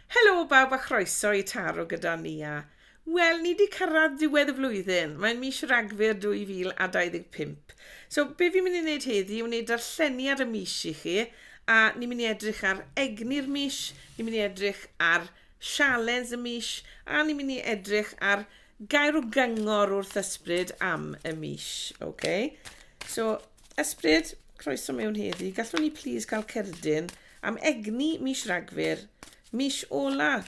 Helo bawb a chroeso i Taro gyda Nia. Wel, ni 'di cyrraedd ddiwedd y flwyddyn, mae'n mis Ragfyr 2025. So, be fi'n mynd i wneud heddi yw wneud darlleniad y mis i chi, a ni'n mynd i edrych ar egni'r mis, ni'n mynd i edrych ar sialens y mis, a ni'n mynd i edrych ar gair o gyngor wrth ysbryd am y mis, ok? So, Ysbryd, croeso mewn heddi. Gallwn ni plis cael cerdyn am egni mis Ragfyr, mis ola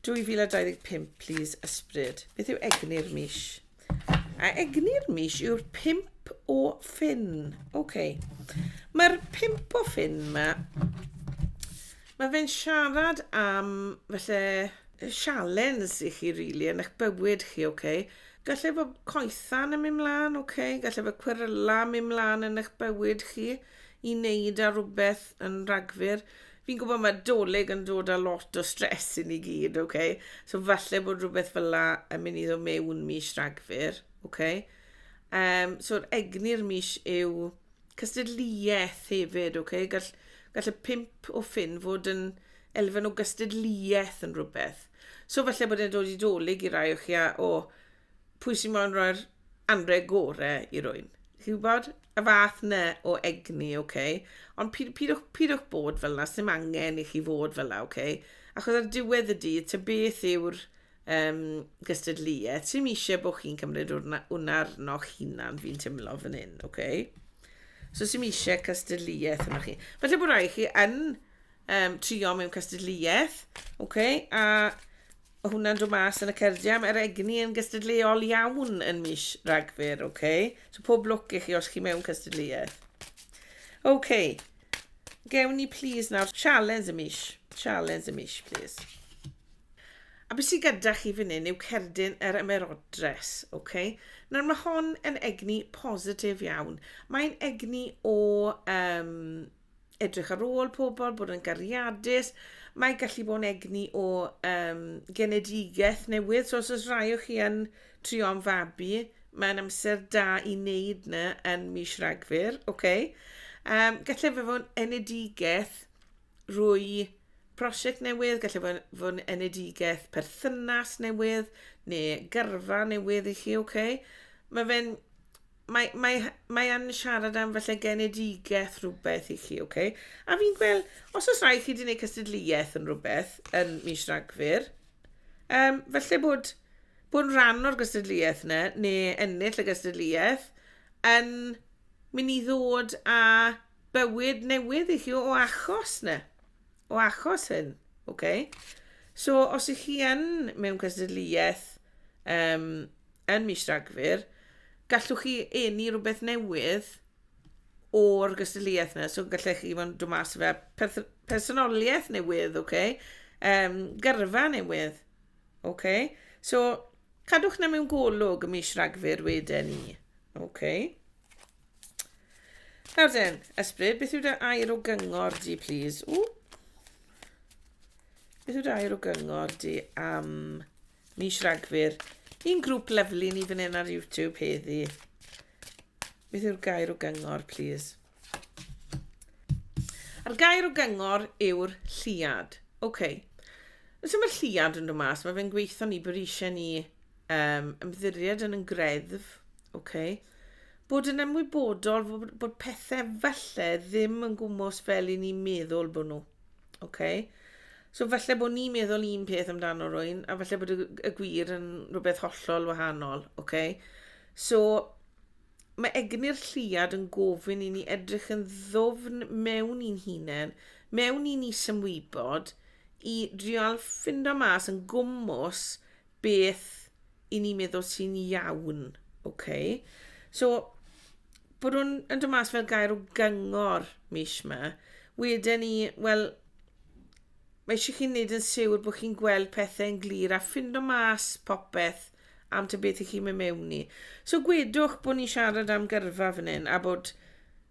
2025, plis, Ysbryd. Beth yw egni'r mis? A egni'r mis yw'r pimp o ffyn. OK. Mae'r pimp o ffyn yma, mae fe'n siarad am, felly, sialens i chi, rili, really, yn eich bywyd chi, OK. Gall efo coethan yn mynd mlaen, ok, gall efo cweryla mynd mlaen yn eich bywyd chi i wneud ar rhywbeth yn rhagfyr. Fi'n gwybod mae doleg yn dod â lot o stres i ni gyd, ok? So falle bod rhywbeth fel la yn mynd i ddod mewn mis rhagfyr, ok? Um, so'r egni'r mis yw cystadleuaeth hefyd, ok? Gall, gall y pimp o ffyn fod yn elfen o gystadleuaeth yn rhywbeth. So falle bod e'n dod i dolyg i rai o chi a, o, pwy sy'n moyn rhoi'r anre gore i rwy'n. Chi'n gwybod? Y fath na o egni, oce? Okay? Ond pyd, pidwch, pidwch bod fel yna, sy'n angen i chi fod fel yna, oce? Okay? Achos ar diwedd y dydd, ta beth yw'r um, gystadleuaeth, sy'n eisiau bod chi'n cymryd hwnna arno'ch hunan, fi'n teimlo fan hyn, oce? Okay? So sy'n eisiau cystadleuaeth yna chi. Felly bod rai chi yn um, trio mewn cystadleuaeth, okay? a o hwnna'n dod mas yn y cerdiau. Mae'r egni yn gystadleuol iawn yn mis Ragfyr, okay? so pob lwc i chi os chi mewn cystadleuaeth. Okay. gewn ni please nawr challenge y mis, challenge y mis please. A beth sydd gyda chi fan hyn yw cerdyn yr ymerodres. Okay? Nawr mae hon yn egni positif iawn. Mae'n egni o um, edrych ar ôl pobl, bod yn gariadus. Mae gallu bod yn egni o um, genedigaeth newydd. So os oes rhai o chi yn trio am fabi, mae'n amser da i wneud na yn mis rhagfyr. Okay. Um, gallai fe fod yn enedigaeth rwy prosiect newydd, gallai fe fod yn enedigaeth perthynas newydd neu gyrfa newydd i chi. Okay. Mae fe'n mae mae h- mae yn siarad am falle genedigaeth rhywbeth i chi, oce? A fi'n gweld, os oes rhai chi wedi gwneud cystadleuaeth yn rhywbeth yn mis Rhagfyr, um, falle bod, bod yn rhan o'r gystadleuaeth yna, neu ennill y gystadleuaeth, yn mynd i ddod â bywyd newydd i chi o achos yna, o achos hyn, oce? So, os ych chi yn mewn cystadleuaeth um, yn mis Rhagfyr, gallwch chi enni rhywbeth newydd o'r gystadleuaeth yna. So gallech chi fod yn dod mas fe personoliaeth newydd, oce? Okay? Um, gyrfa newydd, oce? Okay? So cadwch na mewn golwg y mis Rhagfyr wedyn ni, oce? Okay? Nawr den, ysbryd, beth yw dy air o gyngor di, please? Ww. Beth yw dy air o gyngor di am... Um, Mis Rhagfyr. Un grŵp lyfli ni fan hyn ar YouTube heddi. Beth yw'r gair o gyngor, please? A'r gair o gyngor yw'r lliad. OK. Os yw'r lliad yn dod mas, mae fe'n gweithio ni bod eisiau ni um, ymddiried yn yn greddf. OK. Bod yn ymwybodol bod, bod pethau falle ddim yn gwmwys fel i ni'n meddwl bod nhw. Oce. So falle bod ni'n meddwl un peth amdano rwy'n, a falle bod y, y gwir yn rhywbeth hollol wahanol, oce? Okay? So, mae egni'r lliad yn gofyn i ni edrych yn ddofn mewn i'n hunain, mewn i'n isymwybod, i drial ffindo mas yn gwmwys beth i ni meddwl sy'n iawn, ok? So, bod hwn yn dod mas fel gair o gyngor mis yma, wedyn ni, wel, mae eisiau chi'n neud yn siwr bod chi'n gweld pethau'n glir a ffindo mas popeth am ta beth i chi'n mynd mewn i. So gwedwch bod ni'n siarad am gyrfa fan hyn a bod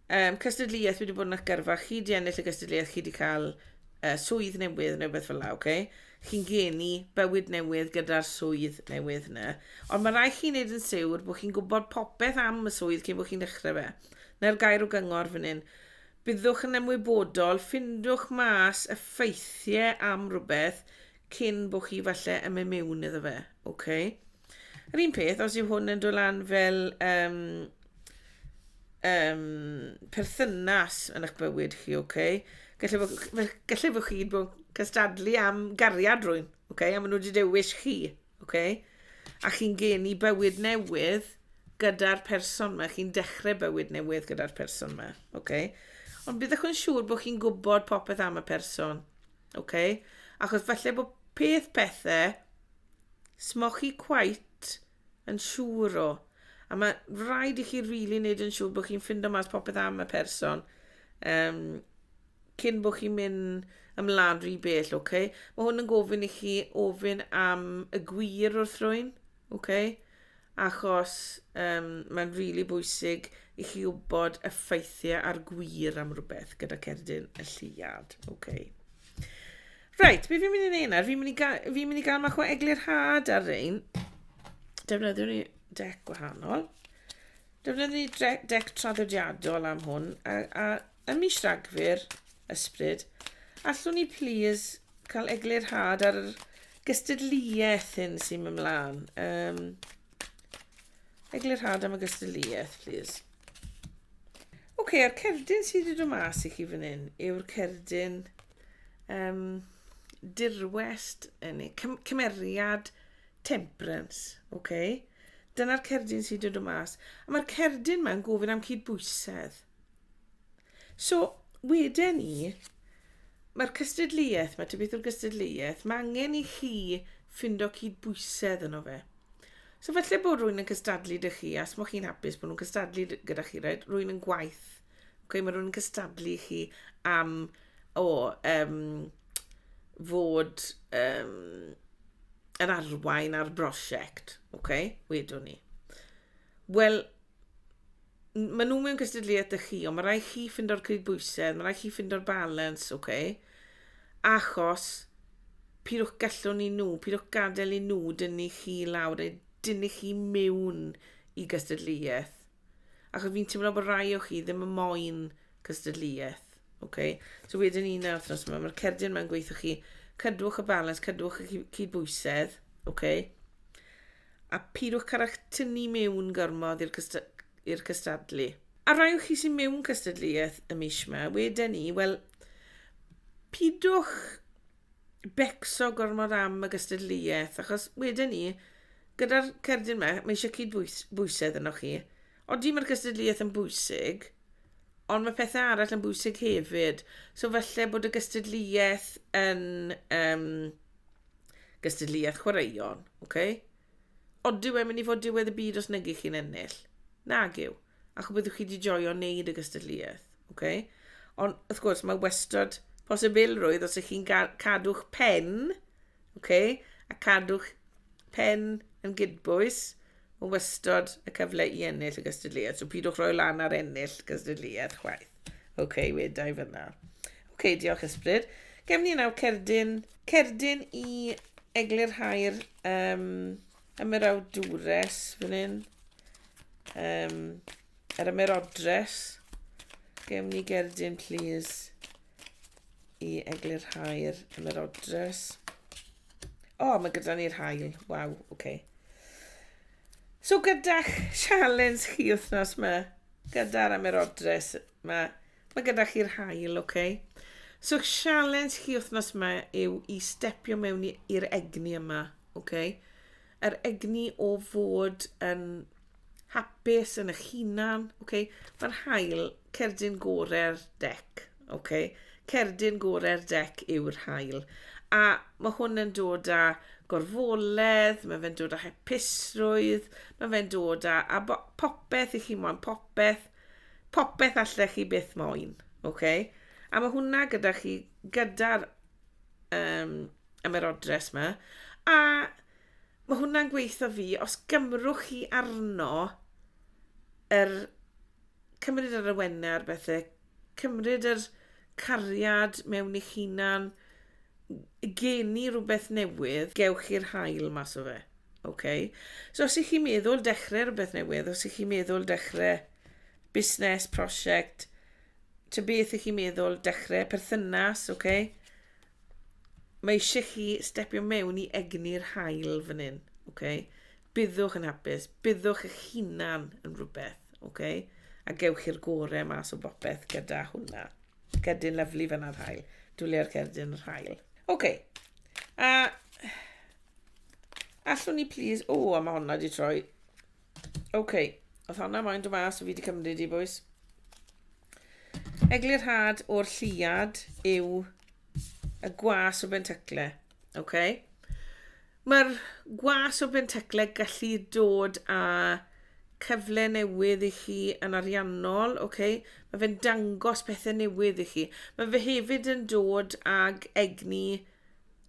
Um, cystadleuaeth, fi wedi bod yn eich gyrfa, chi wedi ennill y cystadleuaeth, chi wedi cael uh, swydd newydd neu beth fel la, oce? Okay? Chi'n geni bywyd newydd gyda'r swydd newydd yna. Ond mae rhaid chi'n neud yn siwr bod chi'n gwybod popeth am y swydd cyn bod chi'n dechrau fe. Na'r gair o gyngor fan hyn. Byddwch yn ymwybodol, ffindwch mas effeithiau am rhywbeth cyn bod chi falle yn mynd mewn iddo fe. OK. Yr un peth, os yw hwn yn dod lan fel um, um, perthynas yn eich bywyd chi, OK. Gallai fod, gallai fod chi bod cystadlu am gariad rwy'n, OK, a maen nhw wedi dewis chi, OK. A chi'n geni bywyd newydd gyda'r person yma, chi'n dechrau bywyd newydd gyda'r person yma, OK. Ond byddwch yn siŵr bod chi'n gwybod popeth am y person, Oce? Achos falle bod peth pethe smoch chi quite yn siŵr o. A mae rhaid i chi rili really wneud yn siŵr bod chi'n ffindo mas popeth am y person um, cyn bod chi'n mynd ymlaen rhy bell, oce? Okay? Mae hwn yn gofyn i chi ofyn am y gwir wrth rwy'n. Ok? Achos um, mae'n rili really bwysig i chi wybod y ffeithiau a'r gwir am rhywbeth gyda cerdyn y lliad. Ok. Reit, beth fi'n mynd i wneud nawr? Fi'n mynd i gael, fi mynd i gael mach o eglur had ar rein. Defnyddiwn ni dec gwahanol. Defnyddiwn ni dec traddodiadol am hwn. A, a Ym mis Rhagfyr, Ysbryd, allwn ni plîs cael eglurhad ar yr gystadleuaeth hyn sy'n mynd mlaen? Um, eglurhad am y gystadleuaeth, plîs. Oce, okay, a'r cerdyn sydd wedi dod mas i chi fan hyn yw'r cerdyn um, dirwest, neu cymeriad temperance, oce? Okay? Dyna'r cerdyn sydd wedi dod mas. A mae'r cerdyn mae'n gofyn am cydbwysedd. So, wedyn ni, mae'r cystadleuaeth, mae tybeth o'r gystadleuaeth, mae angen i chi ffindo cydbwysedd yno fe. So felly bod rwy'n yn cystadlu dy chi, a smoch chi'n hapus bod nhw'n cystadlu gyda chi, right? rwy'n yn gwaith. Okay, mae rwy'n yn cystadlu chi am o, um, fod um, yn arwain ar brosiect. Okay? Wedwn ni. Wel, n- maen nhw mewn cystadleuaeth â chi, ond mae rhaid chi ffindo'r cydbwysedd, mae rhaid chi ffindo'r balans, oce? Okay? Achos, pidwch gallwn i nhw, pidwch gadael i nhw dynnu chi lawr, neu dynnu chi mewn i gystadleuaeth. Achos fi'n teimlo bod rai o chi ddim yn moyn cystadleuaeth, oce? Okay? So wedyn ni na wythnos yma, mae'r cerdyn yma'n gweithio chi, cadwch y balans, cadwch y cyd- cydbwysedd, oce? Okay? A pheidiwch cyrra'ch tynnu mewn gormod i'r cysta- i'r cystadlu. A rai o chi sy'n mewn cystadleuaeth y mis yma, wedyn ni, wel, pidwch becso gormod am y gystadleuaeth, achos wedyn ni, gyda'r cerdyn yma, mae eisiau cyd-bwysedd yno chi. Oeddi mae'r gystadleuaeth yn bwysig, ond mae pethau arall yn bwysig hefyd. So falle bod y gystadleuaeth yn um, Gystadleuaeth chwaraeon, ok? Ond dyw e'n mynd i fod diwedd y byd os negydd chi'n ennill. Nag yw. Ac byddwch chi wedi joio wneud y gystadleuaeth, ok? Ond wrth gwrs mae wastad posibilrwydd os ych chi'n cadw'ch pen, ok? A cadw'ch pen yn gydbwys, Mae wastod y cyfle i ennill y gystadleuaeth, so pidwch roi lan ar ennill y gystadleuaeth chwaith. Oce, okay, weda i fyna. Oce, okay, diolch ysbryd. Gem ni nawr cerdyn, cerdyn i eglurhau'r um, ymerawdwres fan hyn. Um, yr ymerodres. Gem ni gerdyn, please, i eglurhau'r ymerodres. O, oh, mae gyda ni'r hael. Waw, oce. Okay. So gyda'ch sialens chi wythnos yma, gyda'r amerodres yma, mae gyda chi'r hael, oce. Okay. So sialens chi wythnos yma yw i stepio mewn i'r egni yma, oce. Okay. Yr egni o fod yn hapus yn eich hunan, ok? Mae'r haul cerdyn gorau'r dec, ok? Cerdyn gorau'r dec yw'r haul. A mae hwn yn dod â gorfoledd, mae fe'n dod â hepusrwydd, mae fe'n dod â, a popeth i chi moyn, popeth, popeth allech chi byth moyn, ok? A mae hwnna gyda chi, gyda'r um, ymerodres yma. A Mae hwnna'n gweithio fi, os gymrwch chi arno yr cymryd yr awenau ar bethau, cymryd yr cariad mewn eich hunan, geni rhywbeth newydd, gewch chi'r hael mas o fe. Okay. So os ych chi'n meddwl dechrau rhywbeth newydd, os ych chi'n meddwl dechrau busnes, prosiect, ta beth ych chi'n meddwl dechrau, perthynas, okay, Mae eisiau chi stepio mewn i egni'r hael fan hyn. Okay? Byddwch yn hapus, byddwch eich hunan yn rhywbeth. Okay? A gewch chi'r gorau mas o bopeth gyda hwnna. Cerdyn lyflu fan ar hael. Dwliau'r cerdyn yr hael. Okay. A allwn ni please... O, a mae hwnna wedi troi OK, oedd honna moyn dod mas o fi wedi cymryd i, boys. Eglurhad o'r lliad yw y gwas o bentacle. OK? Mae'r gwas o bentacle gallu dod â cyfle newydd i chi yn ariannol, OK? Mae fe'n dangos pethau newydd i chi. Mae fe hefyd yn dod ag egni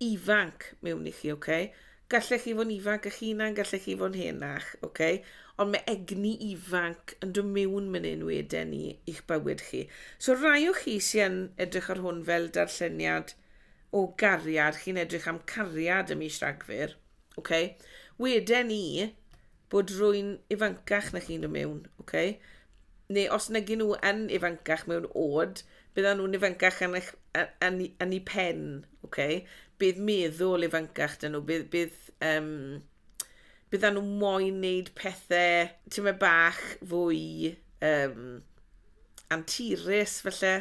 ifanc mewn i chi, OK? Gallech chi fod yn ifanc eich hunan, gallech chi fod yn henach, ok? Ond mae egni ifanc yn dod mewn man hyn weden ni i'ch bywyd chi. So rai o chi sy'n yn edrych ar hwn fel darlleniad o gariad, chi'n edrych am cariad ym mis Rhagfyr, ok? Weden ni, bod rwy'n ifancach na chi'n dod mewn, ok? Neu os nag nhw yn ifancach mewn oed, byddan nhw'n ifancach yn, eich, yn, yn ei pen, ok? Bydd meddwl ifancach dyn nhw, bydd, bydd um, byddan nhw moyn wneud pethau ti'n meddwl bach fwy um, anturus felly.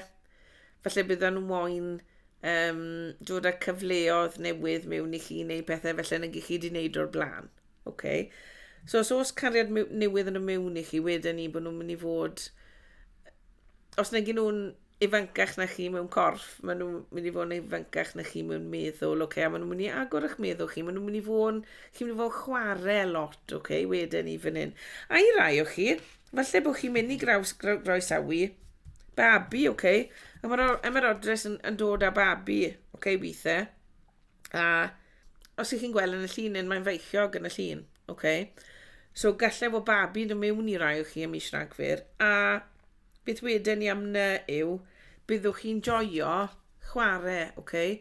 Felly byddan nhw moyn um, dod â cyfleodd newydd mewn i chi neu pethau felly nag i chi wedi wneud o'r blaen. Ok. So os oes cariad newydd yn y mewn i chi, wedyn ni bod nhw'n mynd i fod... Os nag nhw'n ifancach na chi mewn corff, maen nhw'n mynd i fod yn ifancach na chi mewn meddwl, ok? A maen nhw'n mynd i agor eich meddwl chi, maen nhw'n mynd i fod yn... Chi'n mynd i fod yn chwarae lot, ok? Wedyn ni fan hyn. A i rai o chi, falle bod chi'n mynd i graws, groesawu babi, ok? A mae'r MROdres yn, yn dod â babi, ok, weithiau. A os ych chi'n gweld yn y llun yn mae'n feichiog yn y llun, oce? Okay? So gallai fod babi yn mewn i rai o chi am mis Rhagfyr, a beth wedyn ni am na yw, byddwch chi'n joio chwarae, oce? Okay?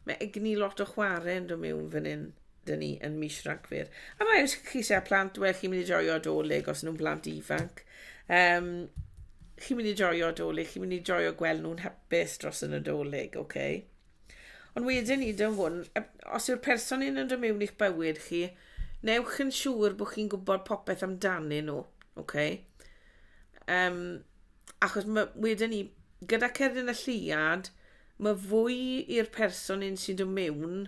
Mae egni lot o chwarae yn dod mewn fan hyn dyn ni yn mis Rhagfyr. A mae os chi eisiau plant, wel, chi'n mynd i joio doleg os nhw'n blant ifanc. Um, chi'n mynd i joio doleg, chi'n mynd i joio gweld nhw'n hapus dros y nadolig, oce? Okay? Ond wedyn hyd yn hwn, os yw'r person yn dod mewn i'ch bywyd chi, newch yn siŵr bod chi'n gwybod popeth amdanyn nhw, okay? Um, achos mae, wedyn ni, gyda cerdyn y lliad, mae fwy i'r person un sy'n dod mewn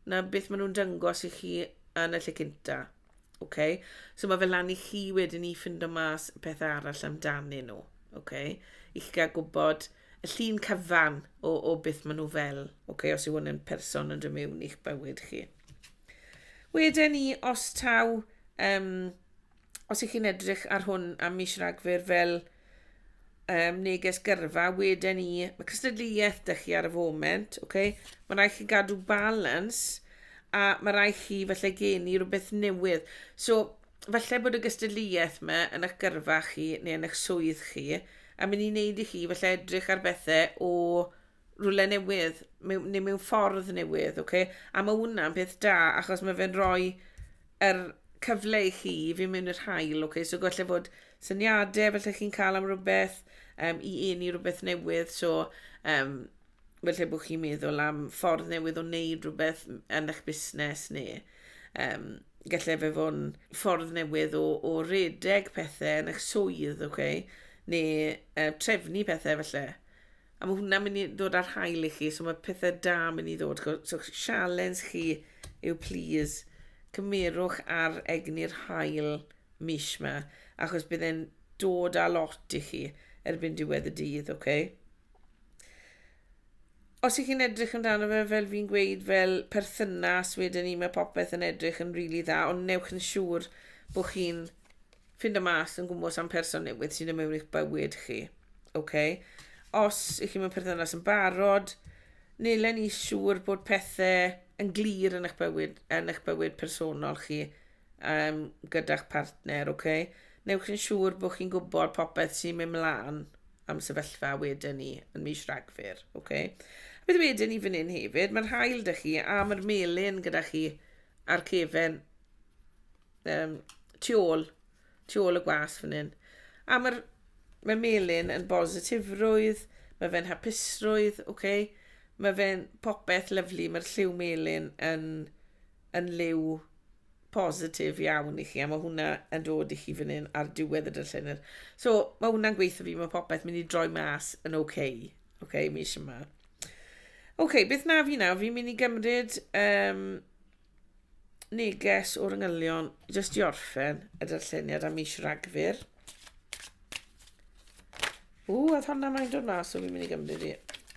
na beth maen nhw'n dyngos i chi yn y lle cynta. Oce? So mae fe lan i chi wedyn i ffindo mas y pethau arall amdanyn nhw. Oce? I chi gael gwybod y llun cyfan o, o beth maen nhw fel. Oce? Os yw hwn yn person yn dod mewn i'ch bywyd chi. Wedyn ni, os taw, um, os ych chi'n edrych ar hwn am mis Ragfyr fel um, neges gyrfa, wedyn ni, mae cystadleuaeth dych chi ar y foment, okay? mae rhaid chi gadw balans a mae rhaid chi felly geni rhywbeth newydd. So, felly bod y gystadleuaeth yma yn eich gyrfa chi neu yn eich swydd chi, a mynd i wneud i chi felly edrych ar bethau o rhywle newydd, mewn, neu mewn ffordd newydd, okay? a mae hwnna'n peth da, achos mae fe'n rhoi yr cyfle i chi i fynd mewn i'r hael, okay? so gallai fod syniadau felly chi'n cael am rhywbeth, um, i un i rhywbeth newydd, so um, felly bod chi'n meddwl am ffordd newydd o wneud rhywbeth yn eich busnes neu um, gallai fe fod yn ffordd newydd o, o redeg pethau yn eich swydd, okay? neu uh, trefnu pethau felly. A mae hwnna'n mynd i ddod ar hael i chi, so mae pethau da mynd i ddod. So sialens chi yw plis cymerwch ar egni'r hael mis yma, achos bydd e'n dod â lot i chi erbyn diwedd y dydd, oce? Okay? Os ych chi'n edrych amdano fe, fel fi'n gweud, fel perthynas, wedyn ni mae popeth yn edrych yn rili really dda, ond newch yn siŵr bod chi'n Ffindo mas yn gwmws am person newydd sy'n dod mewn i'ch bywyd chi. Ok. Os ych chi mewn perthynas yn barod, neu len i siŵr bod pethau yn glir yn eich bywyd, yn eich bywyd personol chi um, gyda'ch partner, ok. Newch chi'n siŵr bod chi'n gwybod popeth sy'n mynd mlaen am sefyllfa wedyn ni yn mis Rhagfyr, ok. A beth wedyn ni fan hyn hefyd, mae'r hael da chi a mae'r melin gyda chi a'r cefen um, tu ôl, tu ôl y gwas fan hyn. A mae'r mae Melin yn bositifrwydd, mae fe'n hapusrwydd, oce? Okay? Mae fe'n popeth lyflu, mae'r lliw melin yn, yn liw positif iawn i chi, a mae hwnna yn dod i chi fan hyn ar diwedd y dyllenir. So, mae hwnna'n gweithio fi, mae popeth mynd i droi mas yn oce, okay, oce, okay, mis yma. Oce, okay, beth na fi nawr, fi'n mynd i gymryd um, neges o'r yngylion, jyst i orffen y darlleniad am mis Ragfyr. Ww, oedd honna mae'n dod mas, so fi'n mynd i gymryd i.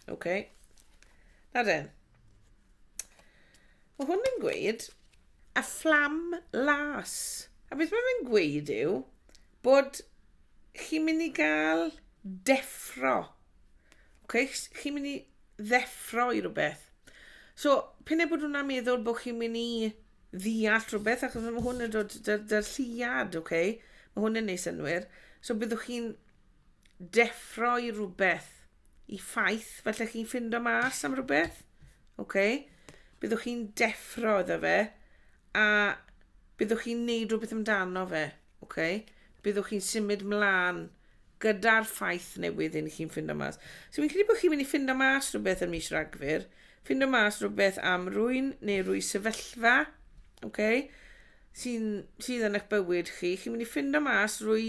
Oce. Okay. Na den. Mae hwn yn gweud, a fflam las. A beth mae fe'n gweud yw bod chi'n mynd i gael deffro. Okay? Chi'n mynd i ddeffro i rhywbeth. So, pyn e bod hwnna'n meddwl bod chi'n mynd i ddeall rhywbeth, achos mae hwn yn dod dy'r lliad, ok? Mae hwn yn ei synwyr. So, byddwch chi'n deffro i rhywbeth, i ffaith, felly chi'n ffindo mas am rhywbeth, ok? Byddwch chi'n deffro iddo fe, a byddwch chi'n neud rhywbeth amdano fe, ok? Byddwch chi'n symud mlaen gyda'r ffaith newydd i chi'n ffindo mas. So fi'n credu bod chi'n mynd i ffindo mas rhywbeth yn mis Ragfyr, ffindo mas rhywbeth am rwy'n neu rwy sefyllfa, okay, sy'n, sydd yn eich bywyd chi. Chi'n mynd i ffindo mas rwy,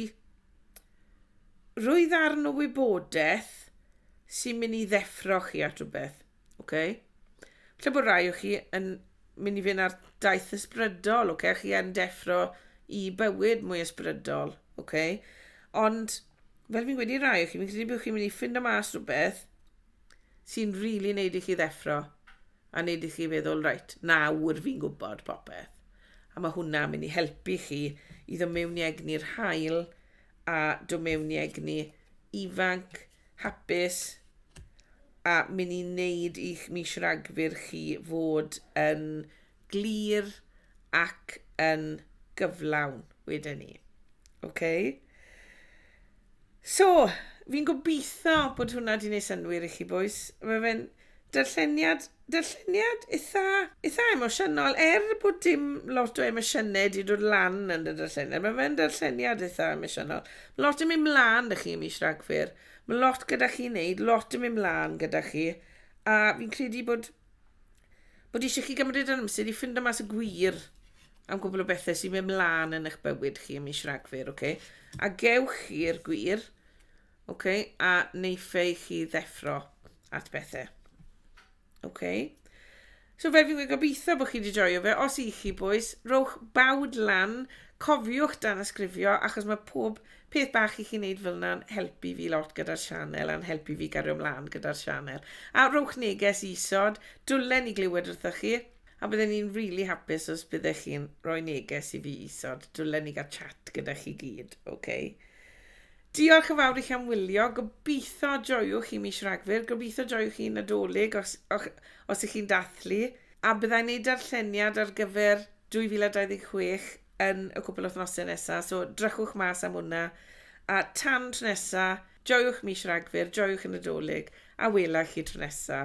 rwy ddarn o wybodaeth sy'n mynd i ddeffro chi at rhywbeth. Oce? Lle bod rai o chi yn mynd i fynd ar daith ysbrydol, oce? Chi yn deffro i bywyd mwy ysbrydol, oce? Ond, fel fi'n gweud i rai o chi, fi'n credu bod chi'n mynd i ffindo mas rhywbeth sy'n rili really wneud i chi ddeffro a wneud i chi feddwl, reit, nawr fi'n gwybod popeth. A mae hwnna'n mynd i helpu chi i ddo mewn i egni'r hael a ddo mewn i egni ifanc, hapus a mynd i wneud i'ch mis Rhagfyr chi fod yn glir ac yn gyflawn wedyn ni. OK? So, fi'n gobeithio bod hwnna 'di wneud synnwyr i chi bwys. Mae fe'n Darlleniad, darlleniad eitha, eitha emosiynol, er bod dim lot o emosiynau wedi dod lan yn y darlleniad. Mae fe'n darlleniad eitha emosiynol. Mae lot yn mynd mlaen da chi ym mis Rhagfyr. Mae lot gyda chi wneud, lot yn mynd mlaen gyda chi. A fi'n credu bod, bod eisiau chi gymryd yn amser i ffindo mas y gwir am gwbl o bethau sy'n mynd mlaen yn eich bywyd chi ym mis Rhagfyr, oce? Okay? A gewch chi'r gwir Ok, a neiffei chi ddeffro at bethau. Ok. So fe fi'n gobeithio bod chi wedi joio fe. Os i chi bwys, rowch bawd lan, cofiwch dan ysgrifio, achos mae pob peth bach i chi wneud fel yna'n helpu fi lot gyda'r sianel a'n helpu fi gario ymlaen gyda'r sianel. A rowch neges i isod, dwlen i glywed wrtho chi, a byddwn ni'n rili really hapus os byddech chi'n rhoi neges i fi isod, dwlen i gael chat gyda chi gyd, oce? Okay? Diolch yn fawr i chi am wylio, gobeithio joiwch chi mis Rhagfyr, gobeithio joiwch chi Nadolig os, och, os ych chi'n dathlu, a byddai'n neud darlleniad ar gyfer 2026 yn y cwpl wythnosau nesaf, so drychwch mas am hwnna, a tan tro nesa, joiwch mis Rhagfyr, joiwch y Nadolig, a wela chi tro nesa.